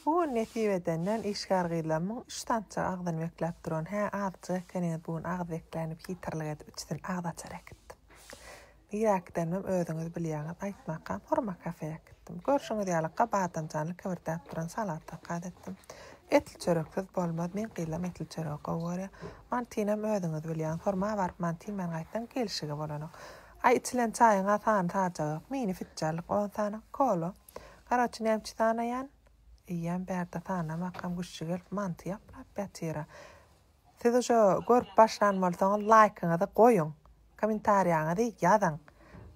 Bu gün nesip edenden işgär gyzlarymyň üç tança agzyny bekläp duran, hä, azjyk ekeniňiz bu gün agyz bekläni hitirlik edip içsin agyz açar äkitdim. Nirä-äkidenimem özüňiz bilýäňiz, aýtmakam, hurma kafeýa äkitdim. Görşüňiz ýaly, gabadynjanly kibirtäp duran salat zakaz etdim. Etli çöreksiz bolmaz, meň gyzlam etli çöregi gowy görýär. Mantynyam özüňiz bilýäňiz, hurma baryp manty iýmän gaýtsaň gelşigi bolanok. Aý, içilen çaýyň-a sany-sajagok, mini-fitjallyk on sany, kola. Karoçi nämçi sanaýan? Eýýäm bärde sanamakam güşşi gelip manty ýaplap ýatyra. Siz uje görüp başlan bolsaňyz laýkyňyzy goýuň. Komentariýaňyzy ýazyň.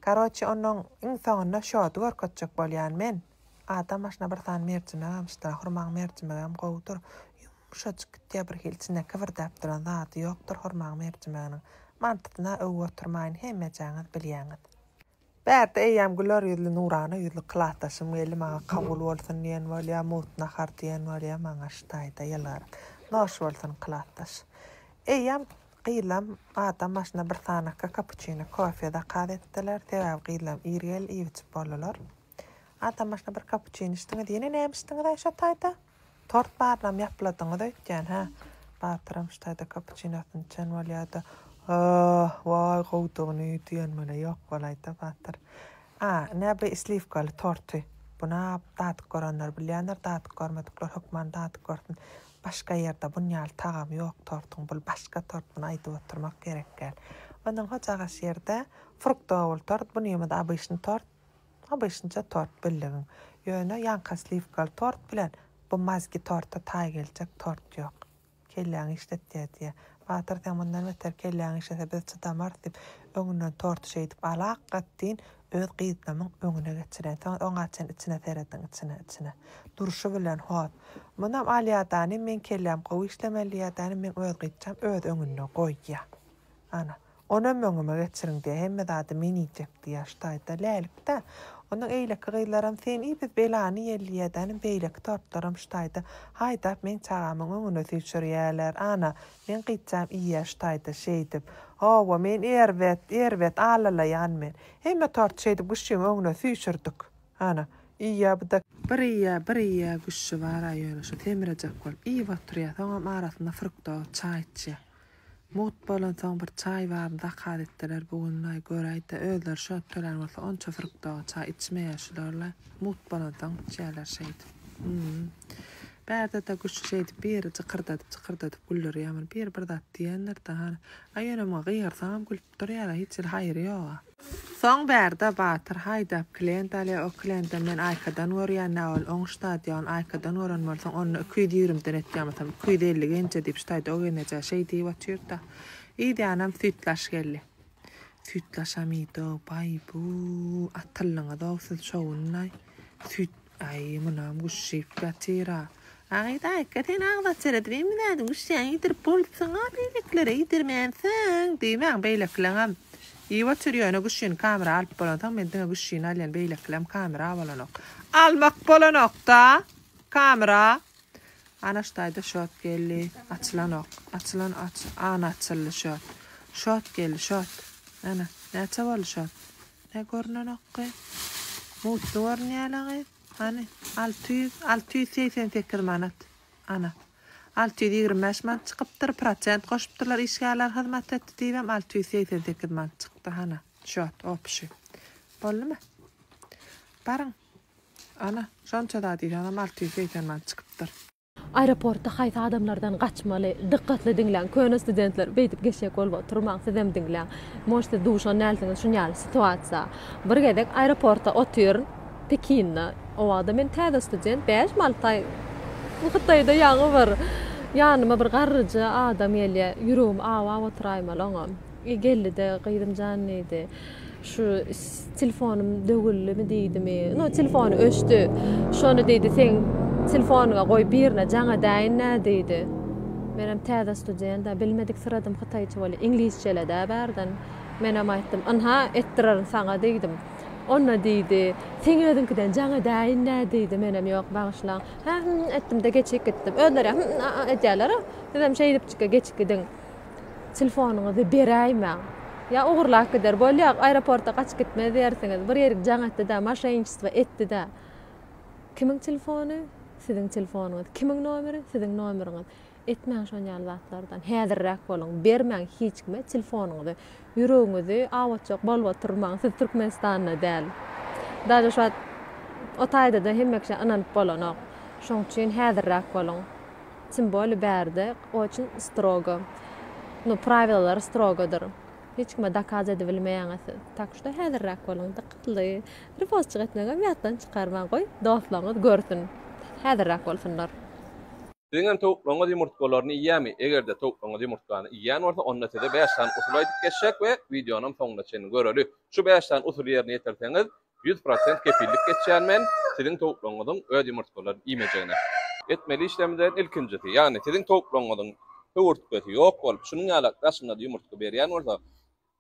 Karoçi onuň iň soňunda şody görkezjek bolýan men. Adam başyna bir sany merjimek almyşdyr hurmaň merjimegem gowudyr. Ýumşajyk gitýär bir hili içinde kibirdäp duran zady ýokdur hurmaň merjimeginiň. Mantysyna öwüp oturmaýyn hemmejaňyz bilýäňiz. Bärde eýýäm güler ýüzli, nurana ýüzli klasdaşym geldi, maňa kabul bolsun diýen bolýar, mugt nahar diýen bolýar, maňa şu taýda ýylgyryp, Noş bolsun, klasdaş! Eýýäm gyzlam adam başyna bir sanakka kapuçino, kofe zakaz etdiler, sebäbi gyzlam ir geldi, iýip-içip boldular. Adam başyna bir kapuçino içdiňiz, ýene näme içdiňiz-aý şo taýda? Tort barynam ýapladyňyz öýtýän hä? Batyram ştaýda kapuçinosyny içen bolýada. Aah, waý gowudygyny diýenmele ýok bolaýda Batyr. A, ine bu sliwkaly torty. Buna dadyk görenler bilýändir, dadyk görmedikler hökman dadyk görsün. Başga ýerde bun ýaly tagamy ýok tortuň. Bul başga tort, muny aýdyp oturmak gerek däl. Ondan hojaga şirde fruktowy bul tort, bunymyz obyşny tort. Obyçnja tort bildigiň. Ýöne ýaňka sliwkaly tort bilen bu mazgi torta taý geljek tort ýok. Kelläňi işlet diýä diýä. Batyr sen mundan beter kelläňi işlese biz çydamarys diýip öňünden torty şeýdip alak gat deýin öz gyznamyň öňüne geçireýin soňra oňa çen içine serediň içine içine durşy bilen hot munam alýadany meň kelläm gowy işlemeli diýýädany meň öz gyzjam öz öňünde goýýa ana Onam öňüme geçiriň-de, hemme zady men iýjek-diýip ýaşdaýy-da, Lälik-dä. Onuň eýleki gyzlaram Sen iý, biz belany ýelleýädänim, beýleki torpdaram şdaýy-da, haýdap meň çagamyň öňüne süýşürýärler. Ana, meň gyzjam iýýär-şdaýy-da, şeýdip. Hawa, men erbet, erbet alalaýan men. Hemme torty şeýdip Güşşüň öňüne süýşürdik. Ana, iýýär bu-da. Bir iýýär, bir iýýär, Güşşi bar-a ýöne şu semirejek bolup iýip oturýar, soňam arasynda fruktowy çaý içýär. Mugt bolansoň bir çaý baby zakaz etdiler bu günlaý göräýdä özleri şo ötdeler bolsa onça fruktowy çaý içmeýär şularlaý mugt bolansoň içýärler şeýdip hum bärdede guş şeýdip biri jykyrdadyp jykyrdadyp güldürýär muny biri bir zat diýendirda hany aý ýöne muňa gygyrsaňam gülüp Dur ýaly hiç hili haýry ýoga. Soň bärde Batyr haýdap klient alýa o klientam men aýkadan görýän nä ol oň ştadýogyn aýkadan gören bolsaň onda iki ýüz ýigrimden etýamasam iki ýüz elli genje diýip ştaýdog enejä şeý diýip otyrda idýanam süýtlaş geldi süýtlaşam iýdog baý bu atyldyňyzow siz şowundaý süýt Aý munam guşşyp ýatyra. Agyýda eke sen agzat seredip emizädiň guşşyň ýedirip bolupsyňa beýlekilere ýedirmänsiň diýmäň beýlekileňem iýip otyr ýöne guşşyny kamera alyp bolansoň men diňe guşşyny alýan beýlekilem kamera bolanok almak bolanokda kamera Anaş daýza şot geldi açylanok açylan aç ana açyldy şot şot geldi şot ana näçe boldy şot. Nä görnenokgy? Mutly görünýälegy. Hany, alty ýüz, alty ýüz segsen sekiz manat. Ana, alty ýüz ýigrimi bäş manat çykypdyr, prosent goşupdyrlar işgärler hyzmat etdi diýibem alty ýüz segsen sekiz manat çykdy. Hana, şöt, opşi. Boldumy? Baryň. Ana, şonça zat diýseňem alty ýüz segsen manat çykypdyr. Aeroportda haýsy adamlardan gaçmaly? Dykgatly diňläň, köne studentler, beýdip geçjek bolup oturmaň, sizem diňläň. Может siz duşan dälsiňiz şun ýaly situasiýa. Bir gezek aeroportda otyryn, Pekinde. O wagtda men täze student, bäş mi alty aý Hytaýda ýaňy bir. Ýanyma bir garryja adam gelýär, ýüregim awap otyraýmaly oňa. Geldi-de, Gyzym jan diýdi, şu telefonym döwüldimi diýdimi, no telefony öçdi. Şony diýdi, seň telefonyňa goý birine jaň edäýin-dä diýdi. Menem täze student-ä, bilmedik syradym hytaýça welin, iňlisçele-dä bärden. Menem aýtdym, ynha, etdirerin saňa diýdim. Onda diýdi, seň özüňkiden jaň edäýin-dä diýdi, menem ýok, bagyşlaň. Hä, hä etdim-de geçip gitdim. Özleri-ä hä-hä edýärler-ä, sizem şeýdipjik-ä geçip gidiň. Telefonyňyzy beräýmäň. Ýa ogurlap gider. Bolýa, aeroporta gaçyp gitmez diýersiňiz. Bir ýerik jaň etdi-de, moşenniçestvo etdi-de. Kimiň telefony? Siziň telefonyňyz. Kimiň nomeri? Siziň nomeriňiz. Etmäň şon ýaly zatlardan. Häzirräk boluň. Bermäň hiç kime telefonyňyzy. Ýüregiňizi awatjak bolup oturmaň, siz Türkmenistanda däl. Daže şu wagt o taýdada hemme kişä ynanyp bolanok. Şoň üçin häzirräk boluň. Tim boli bärde oçin strogo. Nu prawilalar strogodyr. Hiç kime dokaz edibilmeýäňiz siz. Tak şda häzirräk boluň, dykatly. Ripostçyk etmegem ýatdan çykarmaň, goý dostlaryňyz görsün. Häzirräk bolsunlar. Siziňem towuklaryňyz ýumurtgalaryny iýýärmi? Eger-de towuklaryňyz ýumurtgany iýýän bolsa, onda size bäş sany usul aýdyp geçjek we wideonam soňuna çenli göreli. Şu bäş sany usuly ýerine ýetirseňiz, ýüz prosent kepillik geçýän men siziň towuklaryňyzyň öz ýumurtgalaryny iýmejegine. Etmeli işleriňizden ilkinjisi, ýagny siziň towuklaryňyzyň höwürtgesi ýok bolup, şunuň ýalak daşynda-da ýumurtga berýän bolsa,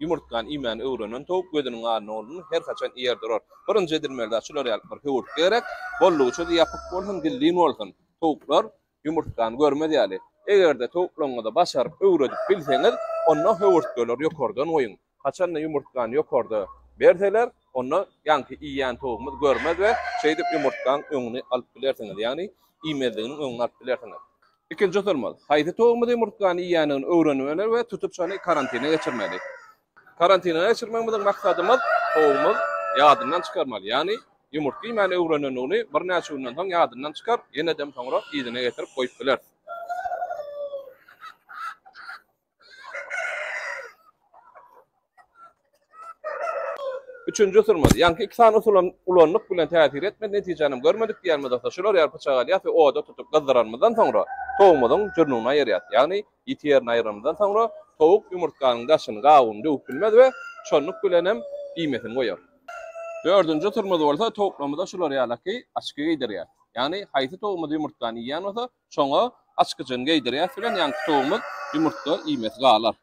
Ýumurtgany iýmäni öwrenen towuk gözüniň alyny boldumy, her haçan iýer durar. Birinji edilmeli-de şular ýaly bir höwürtge gerek, boldugyça da ýapyk bolsun, gizlin bolsun. Towuklar ýumurtgany görmez ýaly. Eger-de towuklaryňyza başaryp öwredip bilseňiz, onda höwürtgeleri ýokardan goýuň. Haçan-da ýumurtgany ýokarda berseler, onda ýaňky iýýän towugymyz görmez we şeýdip ýumurtgaň öňüni alyp bilersiňiz, ýagny iýmezliginiň öňüni alyp bilersiňiz. Ikinji usulymyz, haýsy towumyzy ýumurtgany iýendigini öwrenmeli we tutup şony karantine geçirmeli. Karantine geçirmegimiziň maksadymyz towumyz ýadyndan çykarmaly, ýagny ýumurtga iýmäni öwrenendigini birnäçe günden soň ýadyndan çykar, ýenedem soňra yzyna getirip goýup biler. Üçünji usulymyz, ýaňky iki sany usuly ulandyk bilen täsir etmedi, netijänem görmedik diýenimiz bolsa, şular ýaly pyçak alýas we oda tutup gyzdyranymyzdan soňra, towumyzyň jürnüňini aýyrýas. Ýagny, ýiti ýerini aýyranymyzdan soňra, towuk ýumurtganyň daşyny, gabygyny döwüp bilmez we şonluk bilenem iýmesini goýar. Dördünji usulymyz bolsa, towuklarymyza şular ýalaky açky geýdirýäs. Ýagny, haýsy towugymyz ýumurtgany iýýän bolsa, Şoňa açkyjyny geýdirýäs bilen ýaňky towumyz ýumurtga iýmesi galar.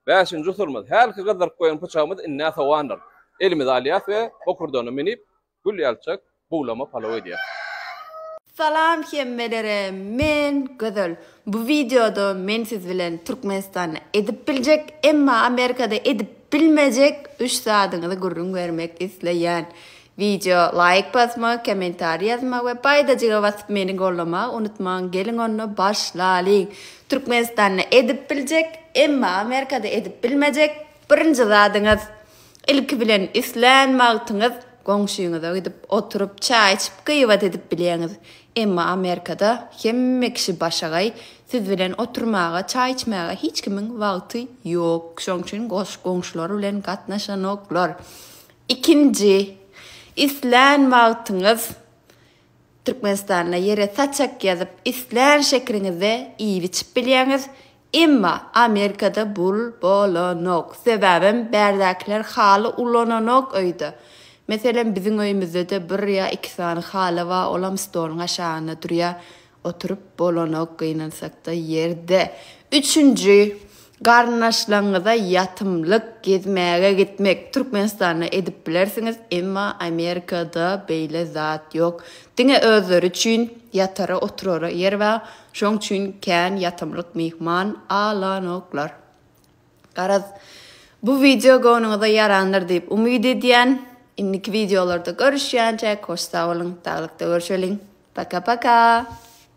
Bäşinji usulymyz, hälki gyzdyryp goýan pyçagymyz indi-ä sowandyr. Elimize alýas we bokurdana münüp, gül ýalyçak buglama palaw edýäs. Salam hemmelere men Gözel bu wideoda men siz bilen Türkmenistanda edip biljek emma Amerikada edip bilmejek üç zadyňyzy gürrüň bermek isleýän. Wideo laýk basmak, kommentariý ýazmak we paýdajyga basyp meni gollamagy unutmaň, geliň onda başlalyň! Türkmenistanda edip biljek, emma Amerikada edip bilmejek birinji zadyňyz, ilki bilen islän wagtyňyz goňşyňyza gidip oturyp çaý içip gyýbat edip bilýäňiz, emma Amerikada hemme kişi başagaý, siz bilen oturmaga, çaý içmäge hiç kimiň wagty ýok, şoň üçin goňşular bilen gatnaşanoklar. Ikinji, islän wagtyňyz Türkmenistanda ýere saçak ýazyp, islän şekeriňizde iýip-içip bilýäňiz, emma Amerikada bul bolanok, sebäbem bärdäkiler haly ulananok öýde. Meselem, biziň öýümizde-de bir ýa iki sany haly bar, olam stoluň aşagynda durýar, Oturyp bolanok gynansakda ýerde. Üçünji, Garyndaşlaňňyza ýatymlyk, gezmäge gitmek. Türkmenistanda edip bilersiňiz, emma Amerikada beýle zat ýok. Diňe özleri üçin ýatara oturara ýer bar, şoň üçin kän ýatymlyk myhman alanoklar. Garaz, bu wideo göwnüňize ýarandyr diýip umyt edýän. Indiki wideolarda görüşýänçäk hoş sag boluň, saglykda görşeliň. Paka-paka!